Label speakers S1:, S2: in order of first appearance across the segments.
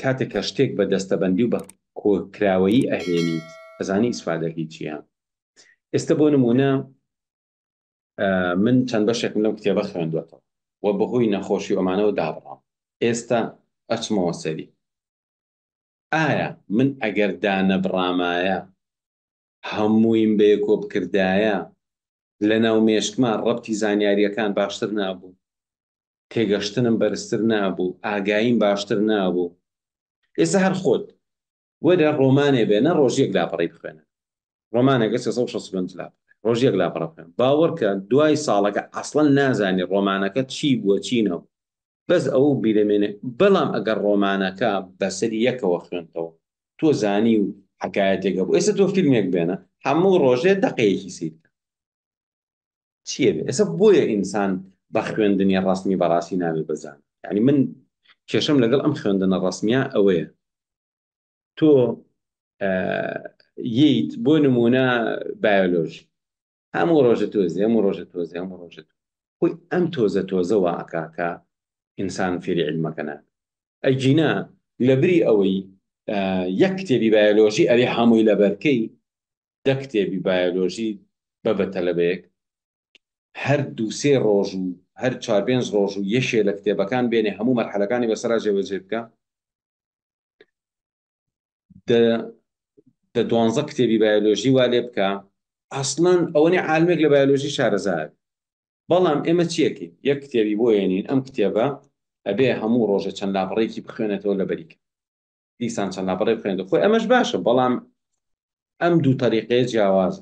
S1: کاتێک کە شتێک بە دەستەبەندی و بە کۆکراوەیی ئەهێنیت ئەزانی ئیسفادەکەی چیە ئێستا بۆ نمونە من چەند بەشێکم لەم کتێبە خوێندوەتەوە و بەهۆی نەخۆشی ئەمانەوە دابڕام ئێستا ئەچمەوە سەری ئایا من ئەگەر دانەبڕامایە هەموویم بەیەکۆ بکردایە لەناو مێشکما ڕەبتی زانیاریەکان باشتر نابوو تێگەشتنم بەرزتر نابوو ئاگاییم باشتر نابوو ئێستا هەر خۆت وەرە ڕۆمانێ بێنە ڕۆژیەک لاپەڕەی بخوێنە ڕۆمانەکە سێ سەد و شەست و پێنج لاپەڕە ڕۆژیەک لاپەڕە بخوێنە باوەڕکە دوای ساڵەکە ئەسڵەن نازانی ڕۆمانەکە چی بووە چی نەبوو بەس ئەوەو بیرە مێنێ بەڵام ئەگەر ڕۆمانەکە بەسەر یەکەوە خوێندتەوە تۆ زانی و حەکایەتێک هەبوو ئێستا تۆ فیلمێک بێنە هەموو ڕۆژێ دەقەیەکی سیر کە چیە بێ ئێستا بۆیە ئینسان بە خوێندنی ڕسمی بەڕاستی ناوێ بەزان یعنی من کێشم لەگەڵ ئەم خوێندنە ڕسمیە ئەوەیە تۆ ییت بۆ نمونە بایۆلۆژی هەموو ڕۆژە تۆزی هەموو ڕۆژە تۆزی هەموو ڕۆژە تۆزی خۆی ئەم تۆزە تۆزە وا ئەکا کە ئینسان فێری عیلمەکە نابێ ئەگینا لەبری ئەوەی یەک کتێبی بایۆلۆژی ئەوێ هەمووی لەبەرکەی دە کتێبی بایۆلۆژی بە بە تەلەبەیەک هەر دوو سێ ڕۆژ و هەر چوار پێنج ڕۆژ و یەشێ لە کتێبەکان بێنێ هەموو مەرحەلەکانی بەسەرا جێبەجێ بکە دە دوانزە کتێبی بایۆلۆژی وا لێ بکە ئەسڵەن ئەوەنێ عالمێک لە بایۆلۆژی شارەزار بەڵام ئێمە چیەکی یەک کتێبی بۆ ێنین ئەم کتێبە ئەبێ هەموو ڕۆژە چەند لاپەڕێکی بخوێنێتەوە لە بەریک دیسان چەند لاپەڕێ بخوێنێت خۆی ئەمەش باشە بەڵام ئەم دوو تەریقەیە جیاوازە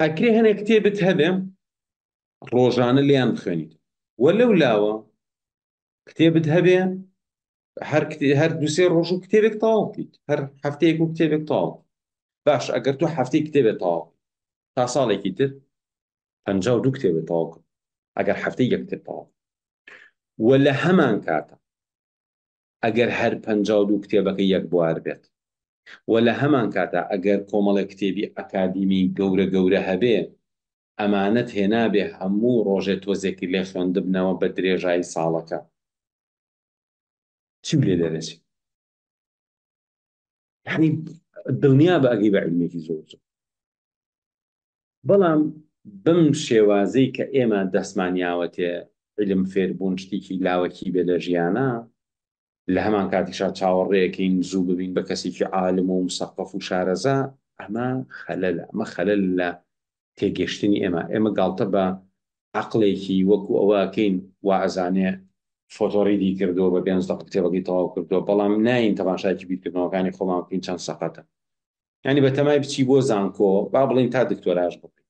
S1: ئەکرێ هەنێک کتێبت هەبێ ڕۆژانە لێیان بخوێنیت وە لەو لاوە کتێبت هەبێ هەر هەر دوسێ ڕۆژ و کتێبێک تەواو بکەیت هەر هەفتەیەک و کتێبێک تاو باش ئەگەر تۆ هەفتەی کتێبێت تاو تا ساڵێکی تر پ دوو کتێبێت تاو کرد ئەگەر هەفتەی یەکتێت تاو وە لە هەمان کاتە ئەگەر هەر پەنجا و دوو کتێبەکە یەک بوار بێت و لە هەمانکاتا ئەگەر کۆمەڵێک کتێبی ئەکادیمی گەورە گەورە هەبێ، ئەمانەت هێنابێ هەموو ڕۆژێ تۆزێکی لێ خوێندبنەوە بە درێژایی ساڵەکە. چی و لێ دەرەچێ؟ یعنی دڵنیا بە ئەگەی بە علمێکی زۆر زۆر بەڵام بم شێوازەی کە ئێمە دەستمانیاوەتێ علم فێربوون شتێکی لاوەکی بێ لە ژیانە لە هەمان کاتیشا چاوەڕێەکەین زوو ببین بە کەسێکی عالم و مسەقف و شارەزا ئەمە خەلەل ئەمە خەلەل لە تێگەشتنی ئێمە، ئێمە گاڵتە بە عەقڵێکی وەکو ئەوە ئەکەین وائەزانێ فۆتۆڕیدی کردووە بە پێنج دەقە کتێبەکەی تەواو کردووە بەڵام نایین تەماشایەکی بیرکردنەوەکانی خۆمان بکەین چەند سەقەتە یانی بەتەمای بچی بۆ زانکۆ با بڵێین تا دکتۆراش بکەین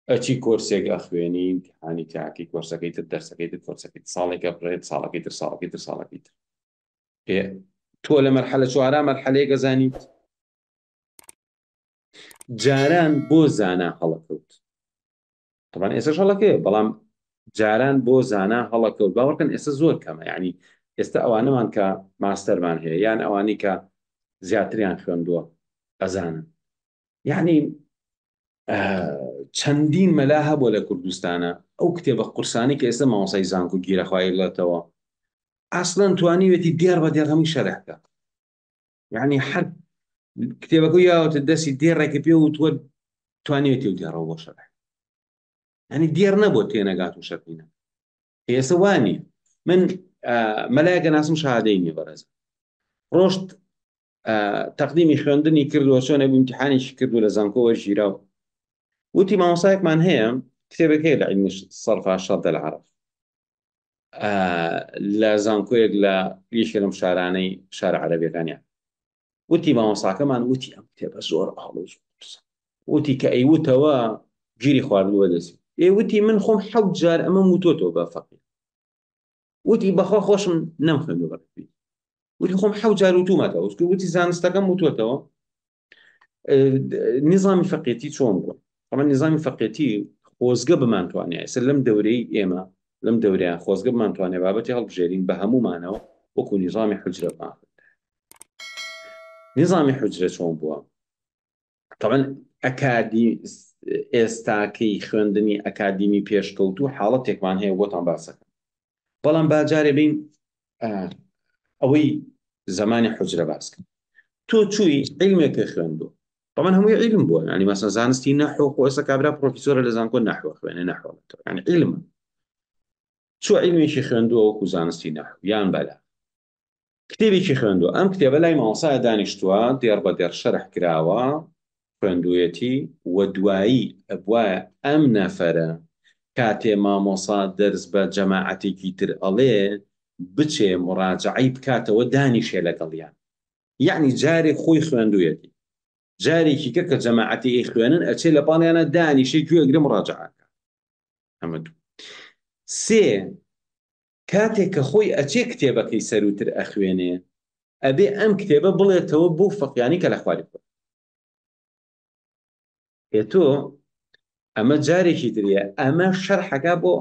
S1: ئەچی کۆرسێک ئەخوێنی ئیمتیحانی تاکەی کۆرسەکەی تر دەرسەکەی تر کۆرسەکەی ساڵێکە بڕێت ساڵەکەی تر ساڵەکەی تر ساڵەکەی تر تۆ لە مەرحەلە چوارا مەرحەلەیەک ئەزانیت جاران بۆ زانا هەڵەکەوت طبعا ئێسش هەڵەکەی بەڵام جاران بۆ زانا هەڵەکەوت باوەکەن ئێستا زۆر کەمە ینی ئێستا ئەوانەمان کە ماستەرمان هەیە یان ئەوانی کە زیاتریان خوێندووە ئەزانن یعنی چەندین مەلا هەبوو لە کوردستانە ئەو کتێبە قورسانی کە ئێستا ماوەسای زانکو گیرەخوایلێتەوە ئاسڵەن توانیوێتی دیار بە دێڕەمی شەرەکە یعنی هەر کتێبەکە یاوەتە دەستی دێڕێکی پێ و تووە توانێتی و دێڕەوە بۆ شەرح ینی دێر نەبوو تێنەگات و شەرینە ئێستا وانی من مەلایەکە ناسم شادەی نیە بەڕێز ڕۆشت تەقدیمی خوێندنی کردووە چۆنە بمتحانێکی کردو لە زانکۆوە ژیرا و وتی مامۆسایەکمان هەیە کتێبەکەی لە عیلمی سەرفا شەر دەلعاعرف لە زانکۆیەک لە یەکێ لەم شارانەی شارە عەرەبیەکانیان وتی مامۆساکەمان وتی ئەم کتێبە زۆر ئاڵۆ وتی کە ئەیوتەوە گیری خواردووە دەسی ئێ وتی من خۆم حەو جار ئەمە وتۆتەوە بە فەقی وتی بەخوا خۆشم نەم خوێندو بەقی وتی خۆم حەو جار وتومەتەوە وتی زانستەکەم وتۆتەوە نیزامی فەقێتی چۆن بووە ئەمە نیزامی فەقێتی خۆزگە بمانتوانێت ئێستا لەم دەورەی ئێمە لەم دەوریان خۆزگە بمانتوانێت بابەتی هەڵبژێرین بە هەمومانەوە وەکو نیزامی حجرەمان نیزامی حجرە چۆن بووە طبعا ئەکادی ئێستاکەی خوێندنی ئەکادیمی پێشکەوتو حاڵەتێکمان هەیە بۆتان باسەکە بەڵام با جارێ بین ئەوەی زمانی حجرە باس کرد تۆ چووی عیلمێکە خوێندو بەمن هەمووی عیلم بووە ینی مەسە زانستی نەحۆ خۆسە کابرا پرۆفیسۆرە لە زانکۆ نەحوە خوێنێ نەحۆڵێتەوە ینی عیلمە چوە عیلمێکی خوێندووە وەکو زانستی نەحو یان بەلا کتێبێکی خوێندوە ئەم کتێبە لای مامۆسایە دانیشتووە دێڕ بە دێڕ شەرح کراوە خوێندویەتی و دوایی ئەبواە ئەم نەفەرە کاتێ مامۆسا دەرس بە جەماعەتێکی تر ئەڵێ بچێ مڕاجعی بکاتەوە دانیشێ لەگەڵیان یعنی جارێک خۆی خوێندویەتی جارێکی کە کە جەماعەتی ئەی خوێنن ئەچێ لە پاڵیانە دانیشێ گوێگرم ڕاجعاکە ئەمە دوو سێ کاتێ کە خۆی ئەچێ کتێبەکەی سەرووتر ئەخوێنێ ئەبێ ئەم کتێبە بڵێتەوە بۆ فەقیانی کە لە خواری خۆی ئێ تۆ ئەمە جارێکی تریە ئەمە شەرحەکە بۆ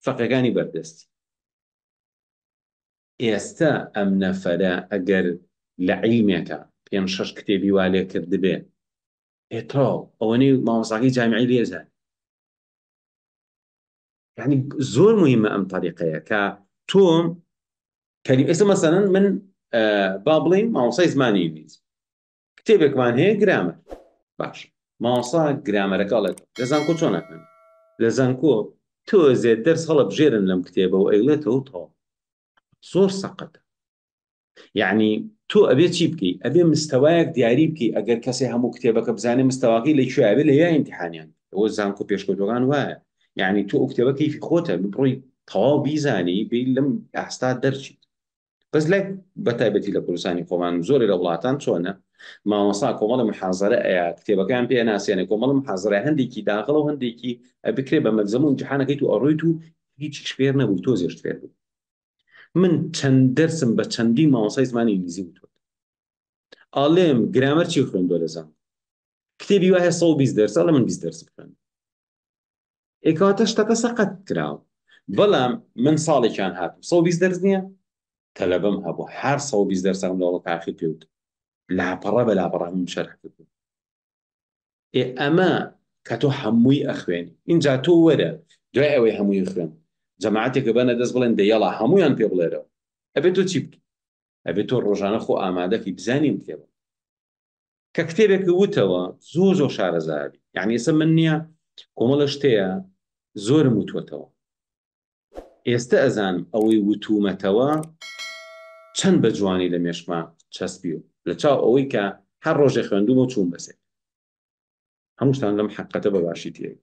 S1: فەقەکانی بەردەستی ئێستا ئەم نەفەرە ئەگەر لە عیلمێکە پێم شەش کتێبی وا لێ کردبێ ئێتاو ئەوەنەی مامۆساقی جامیعی لێزان یعنی زۆر مهمە ئەم تەریقەیە کە تۆم کەری ئێستا مەسەن من با بڵین ماوەسای زمانی ئینگلیز کتێبێکمان هەیە گرامە باش ماوەسا گرامەرەکە ئەڵێت لە زانکۆ چۆن ناکەن لە زانکۆ تۆزێت دەرس هەڵە بژێرن لەم کتێبە و ئەیڵێتەوە تەواو زۆر سەقەتە یعنی تۆ ئەبێ چی بکەیت ئەبێ مستەوایەک دیاری بکەیت ئەگەر کەسێ هەموو کتێبەکە بزانێ مستەواقی لە کوێ ئەبێ لە یا امتحانیان ئەوە زانکۆ پێشکەوتەکان وایە یعنی تۆ ئوکتێبە کەیفی خۆتە بڕۆی تەواو بیزانی بی لەم ئاستا دەرچیت بەس لای بە تایبەتی لە کوردستانی خۆمان زۆری لە وڵاتان چۆنە مامەسا کۆمەڵی محازرە ئەیە کتێبەکان پێ ناسیێنە کۆمەڵم حازرە هەندێکی داغڵ و هەندێکی بکرێ بە مەلزەمون جیحانەکەیت و ئەڕویت و هیچیش فێر نەبووی تۆ زێشت فێر بووی من چەند دەرسم بە چەندی مامۆسای زمانی ئینگلیزی وتوە ئاڵێم گرامەر چی خوێندوە لە زان کتێبی وایە 120 دەرس ئەڵێ من 20 دەرس بخوێن ئێکاتە شتەکە سەقەت کراوە بەڵام من ساڵێکیان هاتم 120 دەرس نییە تەلەبەم هەبوو هەر 120 دەرسەکەم لەوڵە تاخیر پێوت لاپەڕە بە لاپەڕەکەم شەرح کردم ئێ ئەمە کە تۆ هەمووی ئەخوێنی ئینجا تۆ وەرە دوای ئەوەی هەمووی خوێن جەماعەتێکە بەنە دەست بڵێن دەیەڵا هەموویان پێ بڵێرەوە ئەبێت تۆ چی بکەی ئەبێت تۆ ڕۆژانە خۆ ئامادەکەی بزانین کتێبە کە کتێبێک وتەوە زۆر زۆر شارەزابی یعنی ئێستا من نییە کۆمەڵە شتەیە زۆرم وتوەتەوە ئێستە ئەزانم ئەوەی وتوومەتەوە چەند بە جوانی لە مێشکما چەسپی و لە چاو ئەوەی کە هەر ڕۆژێ خوێندوومە و چووم بەسێر هەمووشتان لەم حەققەتە بە باشی تێبوو.